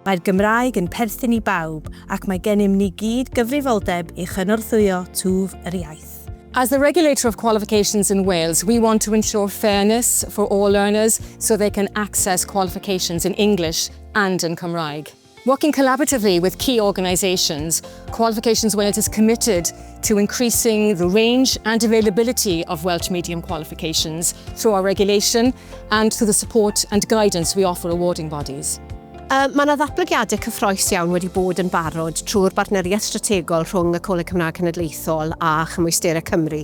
Mae'r Gymraeg yn perthyn i bawb ac mae gennym ni gyd gyfrifoldeb i chynorthwyo twf yr iaith. As the regulator of qualifications in Wales, we want to ensure fairness for all learners so they can access qualifications in English and in Cymraeg. Working collaboratively with key organisations, Qualifications Wales is committed to increasing the range and availability of Welsh Medium qualifications through our regulation and through the support and guidance we offer awarding bodies. Uh, mae yna ddatblygiadau cyffroes iawn wedi bod yn barod trwy'r bartneriaeth strategol rhwng y Coleg Cymraeg Cenedlaethol a Chymwysterau Cymru,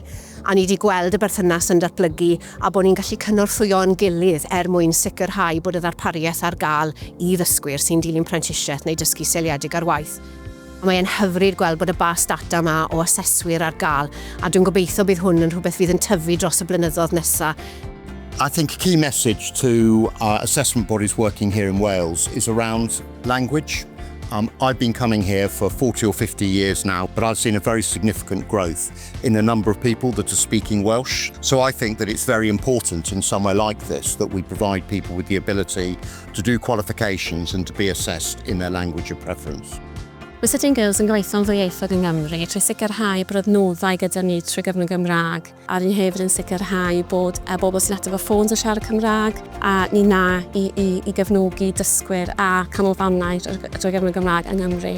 a ni wedi gweld y berthynas yn datblygu a bod ni'n gallu cynorthwyo'n gilydd er mwyn sicrhau bod y ddarpariaeth ar gael i ddysgwyr sy'n dilyn prentisiaeth neu dysgu seiliedig ar waith. Mae e'n hyfryd gweld bod y bas data yma o aseswyr ar gael, a dwi'n gobeithio bydd hwn yn rhywbeth fydd yn tyfu dros y blynyddoedd nesaf. I think a key message to our assessment bodies working here in Wales is around language. Um, I've been coming here for 40 or 50 years now, but I've seen a very significant growth in a number of people that are speaking Welsh. So I think that it's very important in somewhere like this that we provide people with the ability to do qualifications and to be assessed in their language of preference. Mae City and Girls yn gweithio'n ddwyieithog yng Nghymru trwy sicrhau bod adnoddau gyda ni trwy gyfrwng Gymraeg, a ni hefyd yn sicrhau bod a bobl sy'n ateb y ffôns yn siarad Cymraeg, a ni na i, i, i gefnogi dysgwyr a canolfannau drwy gyfrwng Gymraeg yng Nghymru.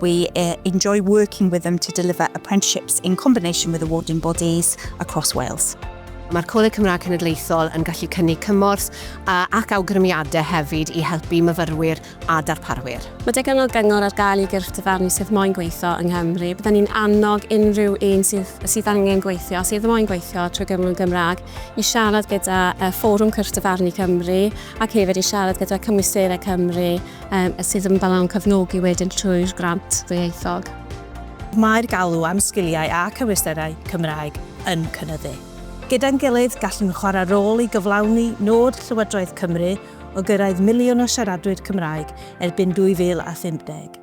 We enjoy working with them to deliver apprenticeships in combination with awarding bodies across Wales. Mae'r Coleg Cymraeg Cenedlaethol yn gallu cynnig cymorth ac awgrymiadau hefyd i helpu myfyrwyr a darparwyr. Mae digon o gyngor ar gael i gyrff dyfarnu sydd moyn gweithio yng Nghymru. Byddwn ni'n annog unrhyw un sydd, sydd angen gweithio, sydd moyn gweithio trwy gyfrwng Gymraeg, i siarad gyda Fforwm Cyrff Dyfarnu Cymru ac hefyd i siarad gyda Cymwysterau Cymru a sydd yn balawn cefnogi wedyn trwy'r grant ddwyieithog. Mae'r galw am sgiliau a cyfleusterau Cymraeg yn cynyddu. Gyda'n gilydd, gallwn chwarae rôl i gyflawni nod Llywodraeth Cymru o gyrraedd miliwn o siaradwyr Cymraeg erbyn 2050.